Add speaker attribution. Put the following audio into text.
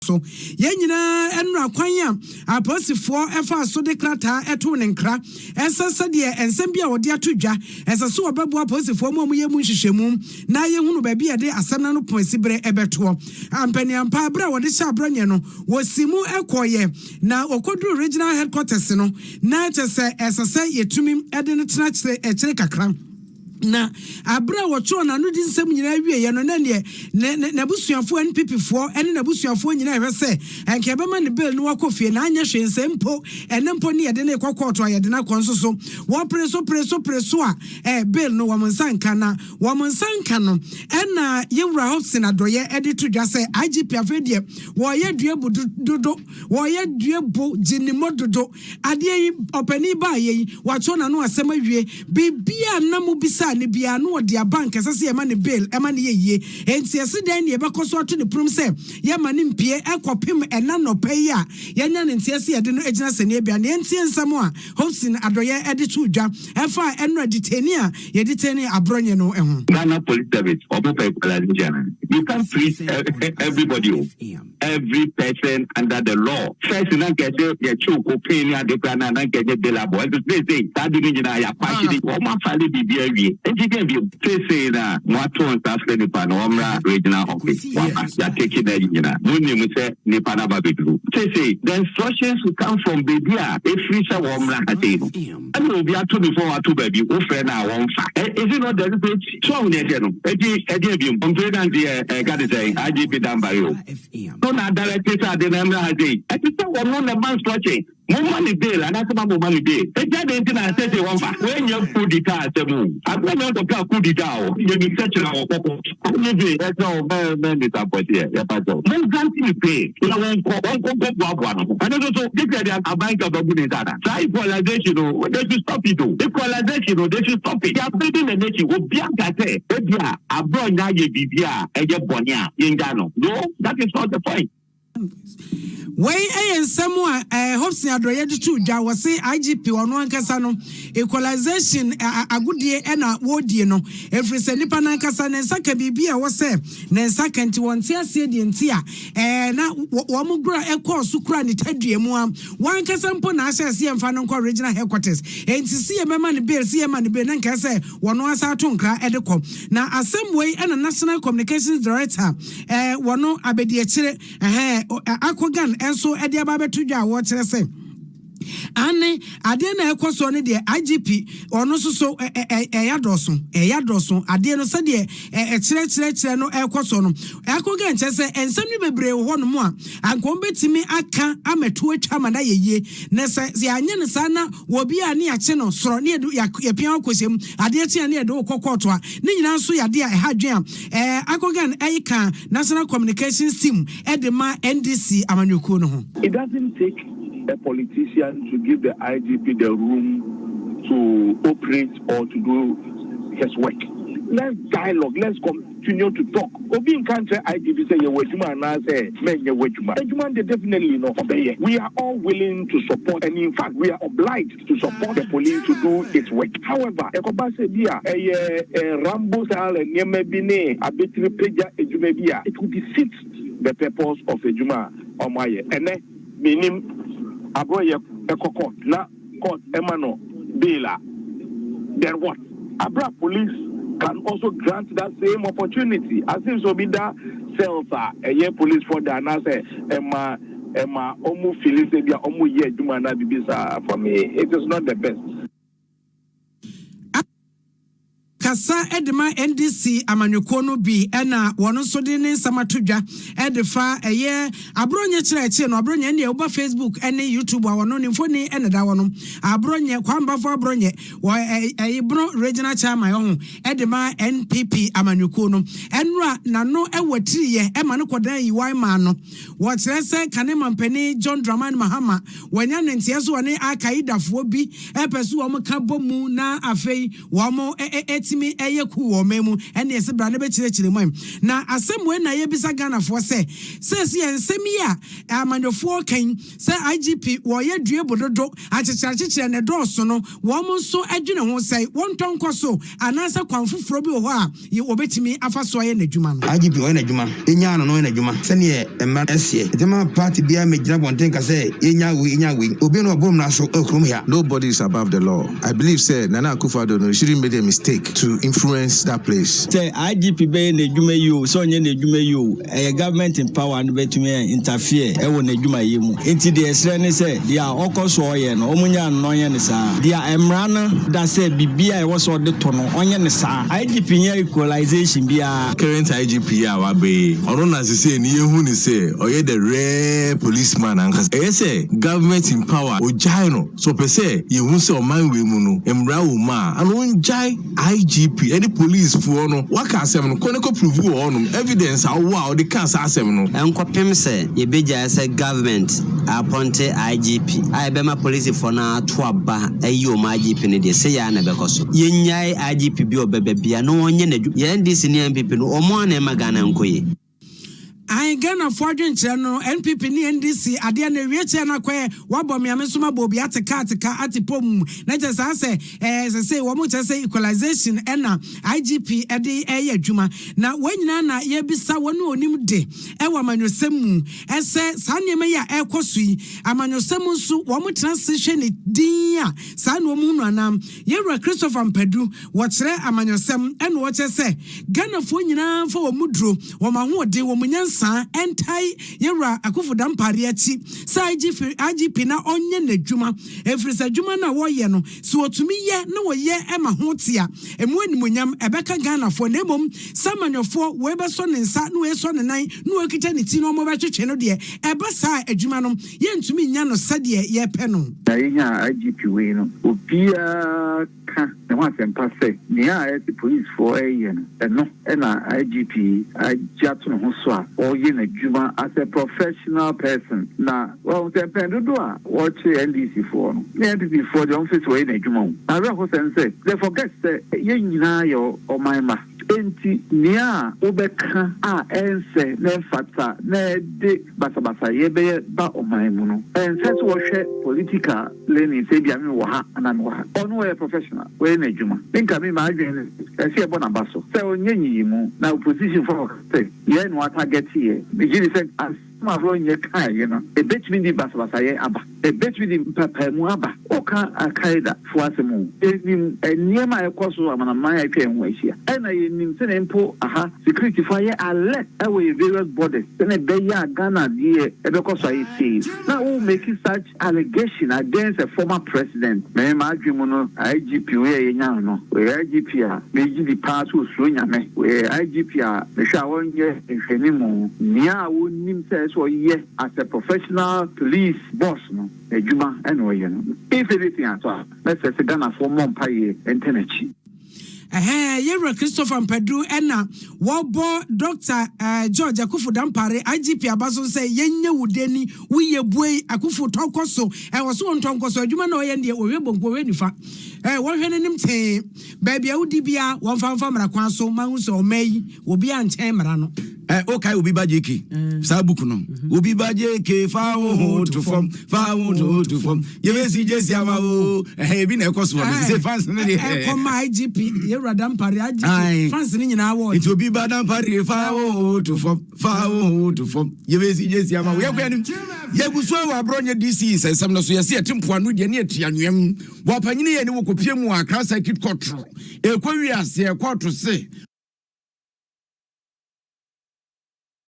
Speaker 1: so. Yɛn nyinaa anura kwan a apolisifoɔ faa so de krataa too ne nkra sɛ sɛdeɛ nsɛm bi a wɔde ato dwa, ɛsɛ sɛ wɔbɛboa apolisifoɔ ma wɔyɛ mu nhwehwɛmu na yɛhunu baabi a yɛde asɛm no ano pon siberɛ bɛtoɔ. Ampaniampa, berɛ a wɔde hyɛɛ Abrɔnyɛ no, wɔsii mu kɔeɛ na wɔkɔduruu Regional Headquarters no, na kyerɛ sɛ ɛsɛ sɛ yɛtumi de no tena akyire kakra. Na bere a wɔtwerɛɛ n'anodi nsɛm nyinaa wieeɛ no, na ɛnneɛ ne ne n'abusuafoɔ NPPfoɔ ne n'abusuafoɔ nyinaa rehwɛ sɛ anka yɛbɛma no bail na wakɔ fie, na anyɛ hwee sɛ mpo ɛnnɛ mpo ne yɛde no rekɔ kɔɔto a yɛde no akɔ nso so. Wɔpere so pere so pere so a ɛɛ bail no wɔn nsa nka, na wɔn nsa nka no ɛna yɛn Wura Hobson Adɔeɛ de to dwa sɛ IGP afei deɛ wɔreyɛ dua bu dodo, wɔreyɛ dua bu gyinimɔ dodo. Adeɛ yi, ɔpanin baeɛ yi, watwerɛ n'ano asɛm awie. Biribiara a na mobisaa no biara, na ɔde aba. Anka ɛsɛ sɛ yɛma no bail, ɛma no yɛ yie. Enti ɛse dɛn na yɛbɛkɔ so ato ne ponom sɛ yɛmma no mpue kɔpem ɛnnɛ anɔpa yi a yɛanya no nteɛ sɛ yɛde no agyina sɛnea ebia. Na yɛntie nsɛm a Hobson Adɔyɛ de too dwa ɛfa ɛnora detainee a yɛdetainee Aborɔnye no ho. Ghana Police Service,
Speaker 2: Ɔmo pɛ equalization. You can't please everybody o. every person under the law first na nka ɛsɛ yɛkyew cocaine ne ade koraa no a na nka ɛnyɛ bailable ɛnso seesei saa de no nyinaa yɛakwakye de wɔn afale biribi awie nti dɛn bio seesei na moato nsa frɛ nipa no ɔmmra regional office waba yɛateki no ayi nyinaa monim sɛ nipa no aba bɛduru seesei the instructions will come from baabi a ɛfiri sɛ wɔmmra ha sei no Ɛna obi ato before wato baabi wo frɛ no a wɔmfa ɛ is it not deliberate so ahu nea ɛteɛ no ɛgye ɛgye abiem ɔmpire dance yɛ ɛka te sɛ IGP Danbare o no na adirect sɛ ade no ɛmmra ha sei ɛte sɛ wɔno na ɛba nsorɔkye momma ne bail anaasɛ ma momma ne bail ɛgya dɛn nti na ɛsɛ sɛ wɔmfa wɔanya kudita asɛm o abena nyɛ nkɔpɛ a kudita o yɛbisa kyerɛ wɔ kɔkɔ Wone dwe ɛsɛ wo mɛ mɛ misa mpɔteɛ yɛpa kyɛw mo nzante ne pee na wɔnkɔ wɔnkɔ nkɔ boaboa no ho ɛno nso so this ɛde aban ka babu ne nsa ana saa equalization no they should stop it o equalization no they should stop it yɛabedi na n'akyi obia nka sɛ ebia abrɔ nyɛ ayɛ biribi a ɛyɛ bɔne a yɛngya no no that is not the point.
Speaker 1: Wei yɛ nsɛm a eh, Hobson Adorɔyɛ de too dwa, wɔse IGP ɔno ankasa no equalization agodie na wɔredie no, ɛfiri sɛ nipa no ankasa ne nsa ka biribi a ɛwɔ sɛ ne nsa ka nti wɔnte aseɛ deɛ nti a eh, na wɔn gora ɛkɔɔ so kura ne tadua mu a wankasa mpo na ahyɛ sɛ yɛmfa no nkɔ regional headquarters enti sɛ yɛbɛma no bail sɛ yɛma no bail na nkae sɛ wɔn asa ato nkra de kɔ na asɛm wei na national communications director eh, wɔno abɛdiakyire, eh, Akogan nso de aba abɛto dwa a wɔkyerɛ sɛ ane adeɛ na ɛkɔ soɔ no deɛ igp ɔno nso so ɛyɛ adɔso ɛyɛ adɔso adeɛ no sɛdeɛ ɛkyerɛkyerɛkyerɛ no ɛkɔ soɔ no ɛkɔga nkyɛ sɛ nsɛm no bebree wɔ hɔ nom a anka wɔn bɛtumi aka amɛto atwa ama no ayɛ yie na sɛ yɛanyɛ no saa na wɔbi a ne yɛakye no sorɔ ne yɛpia akɔhyɛm adeɛ kye a ne yɛde wokɔ kɔɔto a ne nyinaa nso yɛ adeɛ a ɛha adwen a Akogan ka National Communications Team de ma NDC amanyɔkuo no ho. It doesn't take
Speaker 3: a politician to give the IGP the room to operate or to do his work. Let's dialogue, let's continue to talk. Obi nka nkyerɛ IGP sɛ yɛ w'adwuma anaasɛ mɛnyɛ w'adwuma. Adwuma no deɛ definitely no ɔbɛyɛ. We are all willing to support and in fact we are obliged. to support the police to do its work. However, ɛkɔba sɛ bi a ɛyɛ Rambo style nneɛma bi ne abetiri pagya adwuma bi a, it will defeat the purpose of adwuma a wɔayɛ. Ɛnnɛ, mennim, Abroyɛ kɔ court na court ma no bail a, then what? Bere a police can also grant that same opportunity, as in sɛ obi da cells a ɛyɛ policefoɔ de anaasɛ ɛma. ɛma ɔmo fili sɛ ebia ɔmo yɛ adwuma anaa biribi saa. For me it is not the best.
Speaker 1: Kasa de ma NDC amanyɔkuo no bi na wɔn nso de ne nsɛm ato dwa de fa ɛyɛ Aborɔnyɛ kyerɛ ɛkye no Aborɔnyɛ ne ɛwoba Facebook ne YouTube a wɔn ne mfoni na da wɔn Aborɔnyɛ Kwambafo Aborɔnyɛ wɔ Ɛyibono Regional Chairman ɔho de ma NPP amanyɔkuo no ɛnora n'ano ɛwɔ tiriyɛ ɛma no kɔdan yiwae maa no Wɔkyerɛ sɛ kane mampanin John Dramani Mahama wanya ne nteɛso ɔne Al Qaedafoɔ bi pɛ so wɔn ka bɔ mu na afei wɔn tumi yɛ coup wɔ ɔman mu ɛne ɛse bra na bɛkyerɛkyerɛ mu na asɛm wei na yɛbisa Ghanafoɔ sɛ seesei nsɛm yi a amanyɔfoɔ reka yi Sɛ IGP wɔɔyɛ due bododo akyekyerakyekyerɛ na ɛdɔɔso no wɔɔmo nso dwene ho sɛ wɔntɔ nkɔ so anaasɛ kwan foforɔ bi wɔ hɔ a y wɔbɛtumi afa so ayɛ n'adwuma no. IGP ɔyɛ n'adwuma, yɛnyaa
Speaker 4: no na ɔyɛ n'adwuma sɛdeɛ mmara no seɛ. Nti mma party biara mmɛgyina abɔnten nka sɛ yɛnyaa wei yɛnyaa wei. Obiara na waboro mmara so wɔ kurom ha. Nobody is above the law.
Speaker 5: I believe sɛ Nana Akufo Addo no shouldn't made a mistake to influence that place. Sɛ IGP bɛyɛ
Speaker 6: n'adwuma yi oo, sɛ ɔnyɛ n'adwuma yi oo. ɛyɛ government empower no bɛtumi ɛ interfere ɛwɔ n'adwumayɛ mu nti deɛ ɛsrɛ ne sɛ deɛ a ɔkɔ so ɔyɛ no ɔmo nya no ɔnyɛ ne saa deɛ a mmara no da sɛ biribi a ɛwɔ sɛ ɔde to no ɔnyɛ ne saa IGP nyɛ equalization biara. Current IGP yi a
Speaker 5: waba yi, ɔno na sesei no yɛhu no sɛ ɔyɛ the rare police man ankasa. Ɛyɛ sɛ government empower ogyae no, sɛ ɔpɛ sɛ yɛhu sɛ ɔman wei mu no mmara wɔ mu a, ano ongyae. IGP ne police foɔ no waka asɛm no kɔ ne kɔ prove wɔ hɔ nom evidence a wowɔ a wode kaa saa asɛm no. Ɛnkɔpem sɛ
Speaker 7: yɛbɛgyae sɛ government apɔnte IGP a ɛbɛma police foɔ no ato aba ayi wɔn IGP no deɛ seyɛ ara na ɛbɛkɔ so. Yɛnnyae IGP bi ɔbɛba bia na ɔnyɛ n'adwuma. Yɛ NDC ne NPP no wɔn ara na ɛma Ghana nkɔ yie. Ae
Speaker 1: Ghanafoɔ adwenkyerɛ no NPP ne NDC adeɛ no ewie kyɛɛ no akɔɛ wabɔ me a me nso mabɔ obi ate ka ate ka ate pom na kyɛ saa sɛ ɛɛ sɛsei wɔn kyɛ sɛ equalization ɛna IGP ɛde ɛyɛ adwuma na wɔn nyinaa na yɛbisa wɔn a onim de ɛwɔ amanyɔsɛm mu ɛsɛ saa nneɛma yi a ɛkɔ so yi amanyɔsɛm nso wɔn tena se hwɛ ne din a saa na wɔn hunu anaa yɛwura Christopher Mpadu Wɔkyerɛ amanyɔsɛm na wɔkyerɛ sɛ Ghanafoɔ nyinaa mfa wɔn mu duro, wɔn ahoɔden, wɔn nyansa ntae yɛn Wura Akuffo Dampare akyi sɛ IGP na ɔnyɛ n'adwuma ɛfiri sɛ adwuma no a wɔyɛ no sɛ wɔtumi yɛ na wɔyɛ ma ho te a ɛmu animuonyam ɛbɛka Ghanafoɔ na mmom sɛ amanyɔfoɔ wei bɛsɔ ne nsa na wei asɔ ne nan na wei akita ne ti na wɔbɛtwetwe no deɛ ɛba saa a adwuma no yɛntumi nnya no sɛdeɛ yɛpɛ no. Na yɛnyaa
Speaker 3: IGP wei no obiara. ka ne ho asɛmpa sɛ nea a ɛte polisfoɔ reyɛ no, ɛno na IGP yi agye ato ne ho so a ɔreyɛ n'adwuma as a professional person. Na wahu sɛ mpɛn dodoɔ a wɔkyere NDCfoɔ no ne NPPfoɔ deɛ wɔmfiri sɛ wɔyɛ n'adwuma o. Awerɛhosɛm sɛ they forget sɛ yɛn nyinaa yɛ ɔman mma. Enti nea a wobɛka a ɛnsɛ na ɛmfata na ɛde basabasayɛ bɛyɛ ba ɔman mu no, ɛnsɛ sɛ wɔhwɛ political. Lenny sɛ ebia me wɔ ha anaa me wɔ ha. Ɔno ɔyɛ professional, wayɛ n'adwuma. Me nka me m'adwene ne sɛ, ɛsɛ yɛbɔ n'aba so sɛ ɔnyɛ nyiyimu. Na opposition foɔ ka sɛ yɛn na wɔatagɛte yɛn. Me gye di sɛ asɛm a Ronye kae yi no, ɛbɛtumi de basabasayɛ aba. Ɛbɛtumi de mpaapaemu aba. Woka Al-Qaeda foɔ asɛm o, yɛnim nneɛma a ɛkɔ so amanaman a atwa yɛn ho ahyia. Ɛna yɛnim sɛdeɛ mpo aha security foɔ ayɛ alert wɔ yɛn various borders sɛdeɛ ɛbɛyɛ a Ghana deɛ ɛbɛkɔ so ayɛ sei. Na wo make such. Allegation against a former president, me m'adwen mu no IGP wei a yɛnyaa no, ɔyɛ IGP a megye di paa sɛ ɔsuro Nyame, ɔyɛ IGP a mehwɛ a ɔnyɛ nhwɛnimu, nea a ɔnim sɛ ɛsɛ sɛ ɔyɛ as a professional police boss no, n'adwuma na ɔyɛ no, if anything at all, mɛsrɛ sɛ Ghanafoɔ mmɔ mpaeɛ ntɛ n'akyi. Ɛhɛɛ
Speaker 1: Yɛwura Christopher Mpadu ɛna wɔbɔ Dɔkta George Akuffo Dampare, IGP, aba so sɛ yɛnyɛ wo deni, wo yɛ buei, Akuffo tɔ kɔ so, ɛɛ ɔso ɔntɔ nkɔ so, adwuma na ɔyɛ ndeɛ ɔhwɛ bonku ɔhwɛ nifa, ɛɛ wɔnhwɛ n'anim tee, baabi a wodi biara wɔnfa mfa mmara kwan so ma ahu sɛ ɔman yi obiara nkyɛn mmara no. ẹ o ka obi ba jk
Speaker 4: saa book no mm-hmm. obi ba jk fa wo ho to fam fa wo ho to fam yɛbɛsi jesi ama wo ɛhɛ ebi na ɛkɔ so wɔ sɛ fans no deɛ ɛkɔma igp
Speaker 1: yɛwura dampare igp fans no nyinaa wɔ nti obi ba dampare
Speaker 4: fa wo ho to fam fa wo ho to fam yɛbɛsi jesi ama wo yɛkɔ anim yɛgu so wɔ aborɔ nyɛ dc nsɛnsɛm no so yɛsɛ yɛte mpoano deɛ ne yɛte anweam wɔ apanyini yɛ ne wɔkɔpie mu akra circuit court Ɛkɔ wiase ɛkɔ to se.